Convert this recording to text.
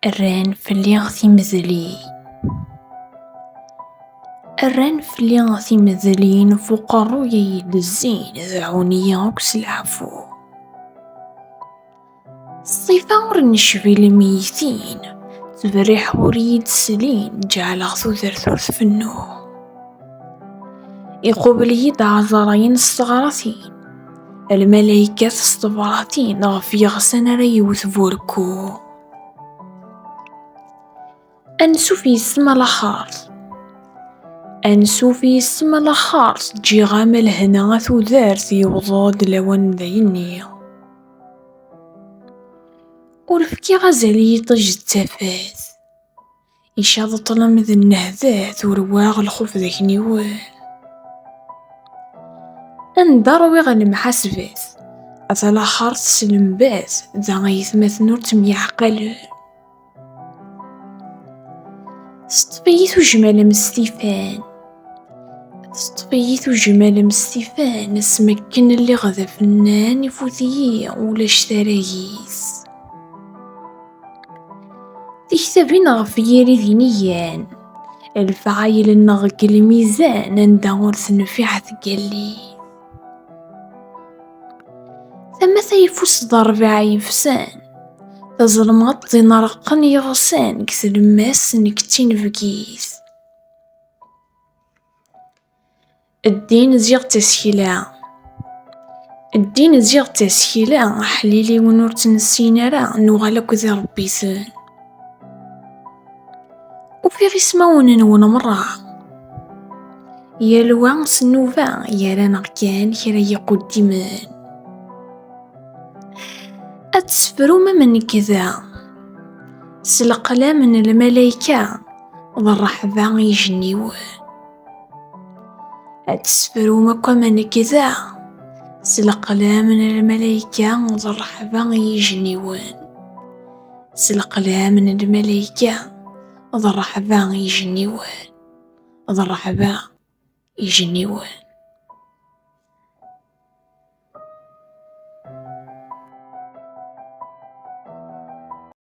Rran fell-i timedliyin. Rran fell-i timedliyin f uqerruy i yi-d-zzin, deɛɛun-iyi akk s leɛfu. Ṣṣifa ur necbi lmeyytin, ttberriḥ ur yi-d-slin, ǧeɛleɣ tudert ur tfennu. Iqubel-iyi-d ɛezṛayen s teɣratin. Lmalaykat s tebṛatin ɣef yeɣsan ara yewwet burku. Ansuf yis-m a laxert. Ansuf yis-m a laxert, ǧǧiɣ-am lehna a tudert, yewweḍ-d lawan n dayenni. Ur fkiɣ azal i yiṭij d tafat. Icaḍ ṭlam d nnehdat, ur waɣ lxuf d akniwen. Anda ṛwiɣ lemḥasbat, at laxert s lembaz, da ayetmaten ur ttemyeɛqalen. Teṭṭef-iyi tujjma lemstifan, teṭṭef-iyi tujjma lemstifan, asmi akken lliɣ d afennan, ifut-iyi ulac taragit. Tiktabin ɣef yiri d inigan. Lefɛayel-nneɣ deg lmizan anda ur tenfiɛ tgellidt. Tama tayeffus d rrbeɛ yefsan. Tazelmaḍt d ineṛṛqen yeɣsan deg tlemmast n ktinebgit. Ddin ziɣ d tasekla. Ddin ziɣ d tasekla, aḥliliwen ur tt-nessin ara, nuɣal akk d irebbiten. Ufiɣ ismawen-nwen merra. Yal wa s nnuba gar-aneɣ kan kra yiquddimen. Ad tesfrum am nekk da. S leqlam n lmalayka d rreḥba ijenniwen. Ad tesfrum akk amanek da, s leqlam n lmalayka d rreḥba i yijenniwen. S leqlam n lmalayka d rreḥba i yijenniwen. D rreḥba i yijenniwen.